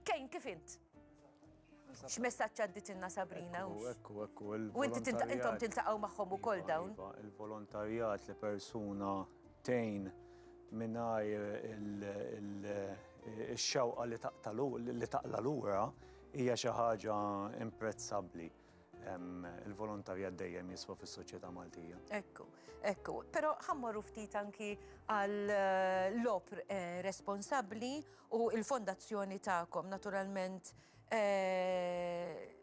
Kejn, kif int? X'messaġġ għadditilna Sabrina? Ekku, ekku, ekku. U inti intom tiltaqgħu magħhom ukoll iva, dawn. Iva, il-volontarjat li persuna tejn mingħajr il-xewqa li taqla lura hija xi ħaġa imprezzabbli. il-volontarjat dejjem jiswa fis-soċjetà Maltija. Ekku, ekku. Però ħammorru ftit anki għal eh, l-opr eh, responsabbli u il-fondazzjoni tagħkom naturalment eh,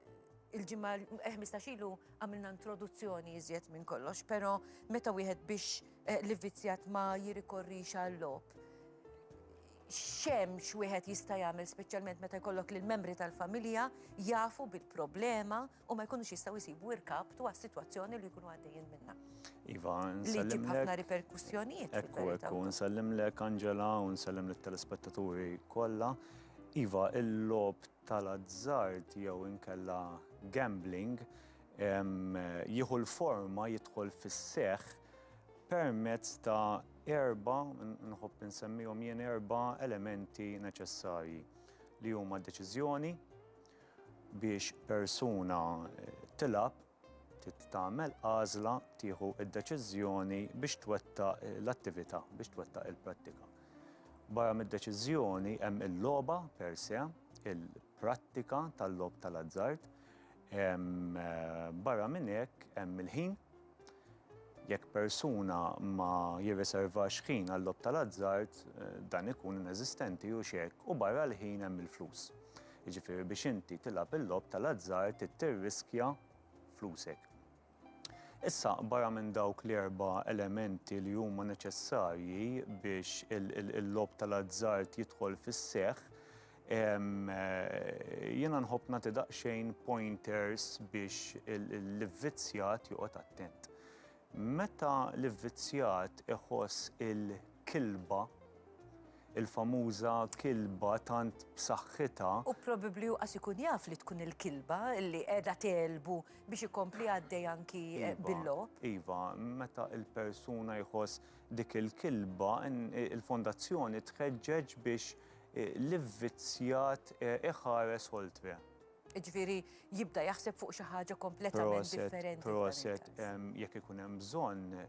il-ġimma 15 ilu għamilna introduzzjoni iżjed minn kollox, pero meta wieħed biex l-vizzjat ma jirikorrix għall-lop. X'hemm x'wieħed jista' jagħmel speċjalment meta jkollok lil membri tal-familja jafu bil-problema u ma jkunux jistgħu jsibu irkab dwar sitwazzjoni li jkunu għaddejjin minnha. Iva, Li ġib ħafna riperkussjonijiet. Ekku, ekku, nsellimlek Angela u nsellem lit-telespettaturi kollha. Iva, il-logħob tal-azzard jew inkella gambling jieħu l-forma jidħol fis-seħħ permezz ta' erba', nħobb insemmihom jien erba' elementi neċessarji li huma deċiżjoni biex persuna tilgħab, Trid tagħmel għażla, tieħu d-deċiżjoni biex twettaq l-attività, biex twettaq il-prattika. Barra mid-deċiżjoni hemm il-logħba per se, il-prattika tal-logħob tal-azzard, hemm eh, barra minn hekk hemm il-ħin. Jekk persuna ma jirriservax ħin għall-logħob tal-azzard, eh, dan ikun ineżistenti u xek, u barra l-ħin hemm il-flus. Jiġifieri biex inti tilgħab il-logħob tal-azzard trid tirriskja flusek. Issa, barra minn dawk l-erba' elementi li huma neċessarji biex il-logħob tal-azzard jidħol fis-seħħ, jiena nħobb nagħti daqsxejn pointers biex l-ivvizzjat joqgħod attent. Meta l-ivvizzjat iħoss il-kilba, il-famuża kilba tant b'saħħitha. U probabbli hu qas ikun jaf li tkun il-kilba li qiegħda tegħlbu biex ikompli għaddej anki bil-logħob. Iva, meta l-persuna jħoss dik il-kilba, il-Fondazzjoni tħeġġeġ biex l-ivvizzjat iħares oltre. Jiġifieri jibda jaħseb fuq xi ħaġa kompletament differenti. Proset, proset, jekk ikun hemm bżonn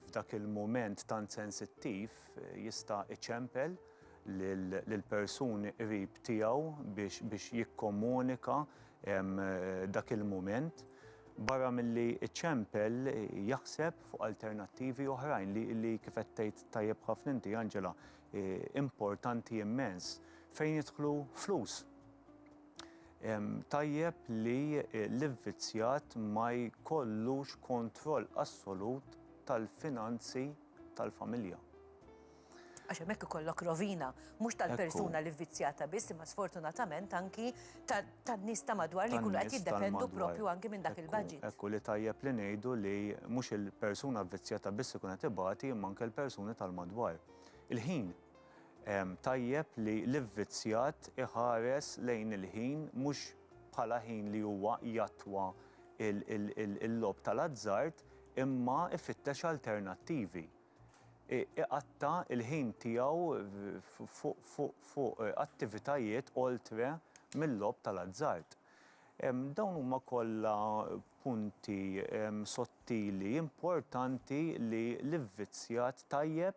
f'dak il-mument tant sensittiv jista' iċempel lill-persuni qrib tiegħu biex jikkomunika dak il-mument. Barra milli jċempel jaħseb fuq alternattivi oħrajn li kif qed tgħid tajjeb ħafna inti Angela, importanti immens fejn jidħlu flus. Tajjeb li l-ivvizzjat ma jkollux kontroll assolut tal-finanzi tal-familja. Għax hemmhekk ikollok rovina, mhux tal-persuna li vvizzjata biss, imma sfortunatament anki tan-nies ta' madwar li jkunu qed jiddependu proprju anki minn dak il-budget. Ekku li tajjeb li ngħidu li mhux il-persuna vvizzjata biss ikun qed ibati imma anke l-persuni tal-madwar. Il-ħin Tajjeb li l-ivvizzjat iħares lejn il-ħin mhux bħala ħin li huwa jattwa l-logħob tal-azzard imma ifittex alternattivi. Iqatta' l-ħin tiegħu fuq attivitajiet oltre mil-logħob tal-azzard. Dawn huma kollha punti sottili importanti li l-ivvizzjat tajjeb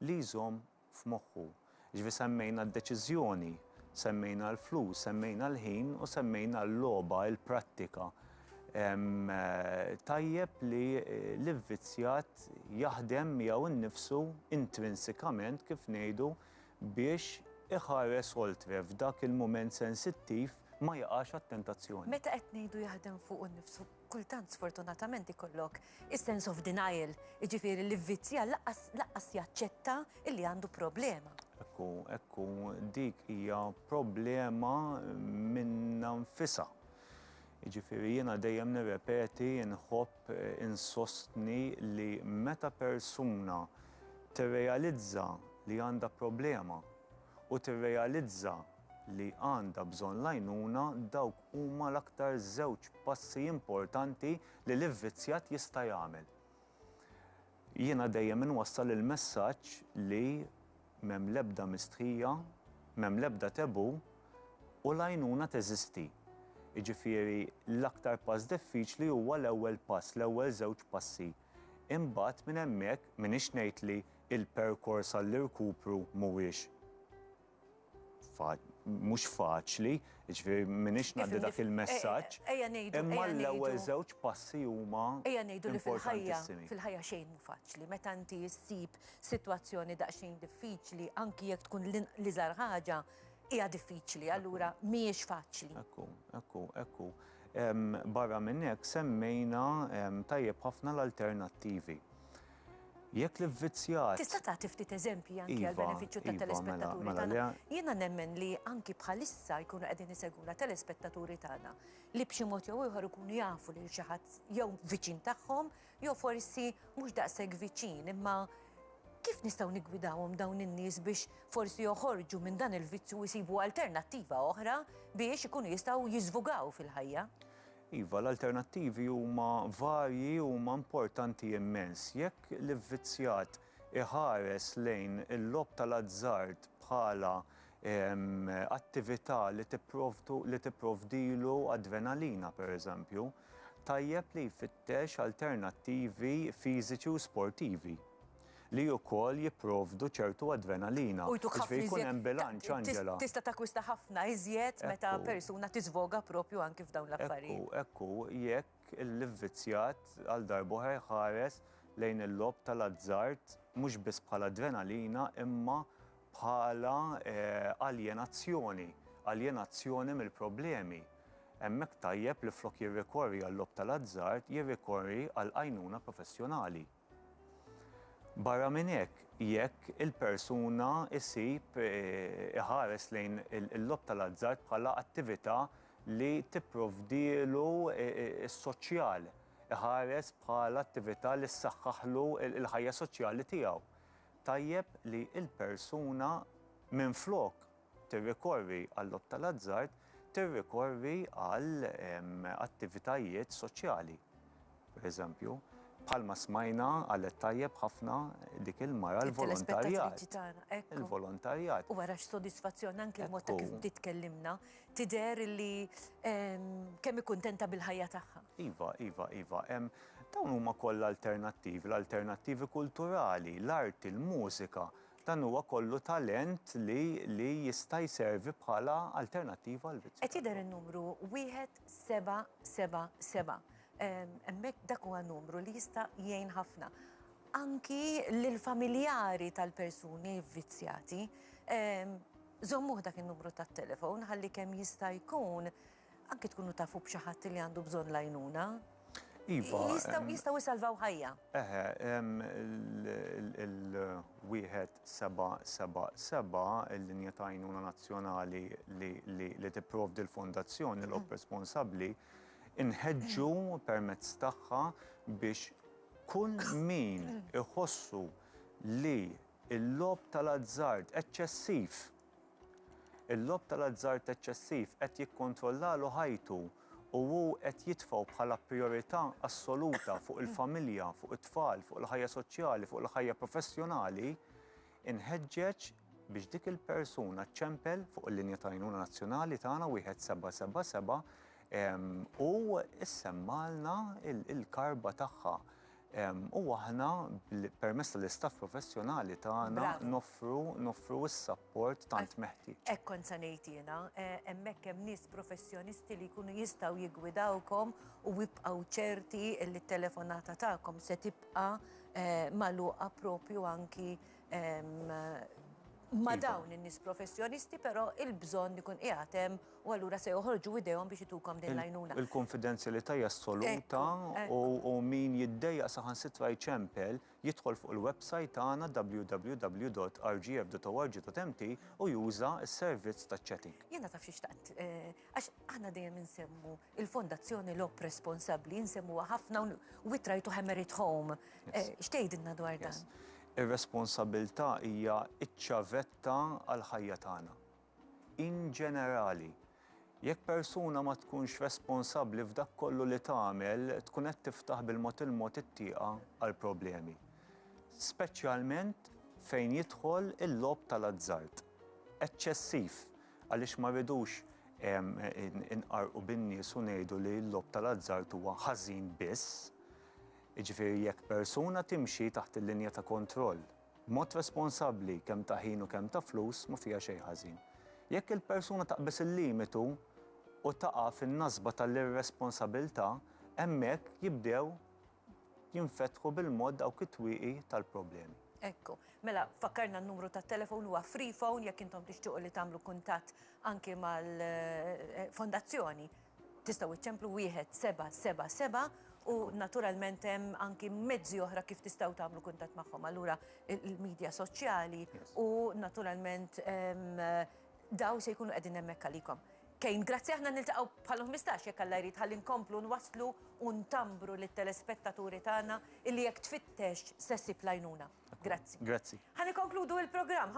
li jżomm f'moħħu. Jiġifieri semmejna d-deċiżjoni, semmejna l-flus, semmejna l-ħin u semmejna l-logħba, il-prattika. Tajjeb li l-ivvizzjat jaħdem miegħu nnifsu intrinsikament kif ngħidu biex iħares oltre f'dak il-mument sensittiv ma jaqax għat-tentazzjoni. Meta qed ngħidu jaħdem fuqu nnifsu? Kultant sfortunatament ikollok is-sense of denial, jiġifieri l-ivvizzjat lanqas lanqas jaċċetta illi għandu problema. Hekk hu, hekk hu, dik hija problema minnha nfisha. Jiġifieri jiena dejjem nirrepeti, inħobb, insostni li meta persuna tirrealizza li għandha problema u tirrealizza li għandha bżonn l-għajnuna dawk huma l-aktar żewġ passi importanti li l-ivvizzjat jista' jagħmel. Jiena dejjem inwassal il-messaġġ li m'hemm l-ebda mistħija, m'hemm l-ebda taboo u l-għajnuna teżisti. Jiġifieri l-aktar pass diffiċli huwa l-ewwel pass, l-ewwel żewġ passi. Imbagħad minn hemmhekk m'iniex ngħid li l-perkors għall-irkupru mhuwiex. mhux faċli, jiġifieri m'iniex ngħaddi dak il-messaġġ. Ejja ngħidu. Imma l-ewwel żewġ passi huma importantissimi. Ejja ngħidu li fil-ħajja, fil-ħajja xejn mhu faċli. Meta inti ssib sitwazzjoni daqsxejn diffiċli, anki jekk tkun l-iżgħar ħaġa, hija diffiċli, allura mhijiex faċli. Ekku, ekku, ekku. Barra minn hekk semmejna tajjeb ħafna l-alternattivi. Jekk l-ivvizzjat. Tista' tagħti ftit eżempji anki għall-benefiċċju tat-telespettaturi tagħna? Jiena nemmen li anki bħalissa jkunu qegħdin isegwuna telespettaturi tagħna li b'xi mod jew ieħor ikunu jafu lil xi ħadd jew viċin tagħhom jew forsi mhux daqshekk viċin imma kif nistgħu niggwidawhom dawn in-nies biex forsi joħorġu minn dan il-vizzju u jsibu alternattiva oħra biex ikunu jistgħu jiżvugaw fil-ħajja? Iva, l-alternattivi huma varji u huma importanti immens. Jekk l-ivvizzjat iħares lejn il-logħob tal-azzard bħala attività li tipprovdilu adrenalina, pereżempju, tajjeb li jfittex alternattivi fiżiċi u sportivi. li ukoll jipprovdu ċertu adrenalina. U jtuk ħafna iżjed. Jiġifieri jkun hemm bilanċ, Angela. Tista' takkwista ħafna iżjed meta persuna tiżvoga proprju anki f'dawn l-affarijiet. Ekku, ekku, jekk l-ivvizzjat għal darb'oħra jħares lejn il-logħob tal-azzard mhux biss bħala adrenalina imma bħala aljenazzjoni, aljenazzjoni mill-problemi, hemmhekk tajjeb li flok jirrikorri għal-logħob tal-azzard jirrikorri għal għajnuna professjonali. Barra minn hekk, jekk il-persuna ssib, iħares lejn il-logħob tal-azzard bħala attività li tipprovdielu s-soċjal, iħares bħala attività li ssaħħaħlu l-ħajja soċjali tiegħu, tajjeb li l-persuna minflok, tirrikorri għal-logħob tal-azzard, tirrikorri għal attivitajiet soċjali, pereżempju. Bħalma smajna qalet tajjeb ħafna dik il-mara l-volontarjat. Il-volontarjat. U wara x'sodisfazzjon anke l-mod ta' kif bdiet tkellimna, tidher li kemm hi kuntenta bil-ħajja tagħha. Iva, iva, iva. Dawn huma kollha alternattivi, l-alternattivi kulturali, l-arti, l-mużika, Dan huwa kollu talent li li jista' jservi bħala alternattiva għal vizzju. Qed jidher in-numru wieħed seba' seba' seba'. Hemmhekk dak huwa numru li jista' jgħin ħafna anki lill-familjari tal-persuni vvizzjati. Żommuh dak in-numru tat-telefon ħalli kemm jista' jkun Anki tkunu tafu b'xi ħadd li għandu bżonn l-għajnuna. Iva. Jistgħu jsalvaw ħajja. Eħe, il-wieħed seba' seba' seba' il-linja ta' għajnuna nazzjonali li tipprovdi l-fondazzjoni l responsabbli inħeġġu permezz tagħha biex kull min iħossu li l-lob tal-azzard eċċessiv Il-logħob tal-azzard eċċessiv qed jikkontrollalu ħajtu u hu qed jitfgħu bħala prijorità assoluta fuq il-familja, fuq it-tfal, fuq il-ħajja soċjali, fuq il-ħajja professjonali, inħeġġeġ biex dik il-persuna ċċempel fuq il-linja ta' għajnuna nazzjonali tagħna 1777 u issemmagħlna l-karba tagħha. U aħna, permezz tal-istaff professjonali tagħna, noffru s-sapport tant meħtieġ. Hekk kont se ngħid jiena, hemmhekk hemm nies professjonisti li jkunu jistgħu jiggwidawkom u ibqgħu ċerti li t-telefonata tagħkom se tibqa' magħluqa proprju anki ma' dawn in-nies professjonisti, però l-bżonn ikun qiegħed hemm. u allura se joħorġu idejhom biex itukom din l-għajnuna. Il-kunfidenzjalità hija assoluta u min jiddejjaq saħansitra jċempel, jidħol fuq il-websajt tagħna www.rgf.org.mt u juża s-servizz taċ-chatting. Jiena taf xi xtaqt, għax aħna dejjem insemmu l-Fondazzjoni Logħob Responsabbli, insemmuha ħafna u we try to hammer it home. X'tgħidilna dwar dan? Ir-responsabbiltà hija ċ-ċavetta għall-ħajja tagħna. In ġenerali, jekk persuna ma tkunx responsabbli f'dak kollu li tagħmel tkun qed tiftaħ bil-mod il-mod it-tieqa għal problemi. Speċjalment fejn jidħol il-logħob tal-azzard. Eċċessiv, għaliex ma rridux inqarrqu bin-nies u ngħidu li l-logħob tal-azzard huwa ħażin biss. Jiġifieri jekk persuna timxi taħt il-linja ta' kontroll. B'mod responsabbli, kemm ta' ħin u kemm ta' flus ma fiha xejn ħażin. Jekk il-persuna taqbeż il-limitu u taqa' fin-nasba tal-irresponsabilità, hemmhekk jibdew jinfetħu bil-mod dawk it-twieqi tal-problemi. Ekku. Mela, fakkarna n-numru tat-telefon huwa free phone jekk intom tixtiequ li tagħmlu kuntatt anki mal-Fondazzjoni. Tistgħu iċċemplu wieħed seba' seba' seba' u naturalment hemm anki mezzi oħra kif tistgħu tagħmlu kuntatt magħhom. Allura il-medja soċjali u naturalment ehm, daw se jkunu qegħdin hemmhekk għalikom. Kejn, grazzi aħna niltaqgħu bħal 15 jekk Alla jrid ħalli nkomplu nwasslu u ntambru lit-telespettaturi tagħna illi jekk tfittex se ssib l-għajnuna. Grazzi. Grazzi. Ħa nikkonkludu il-programm.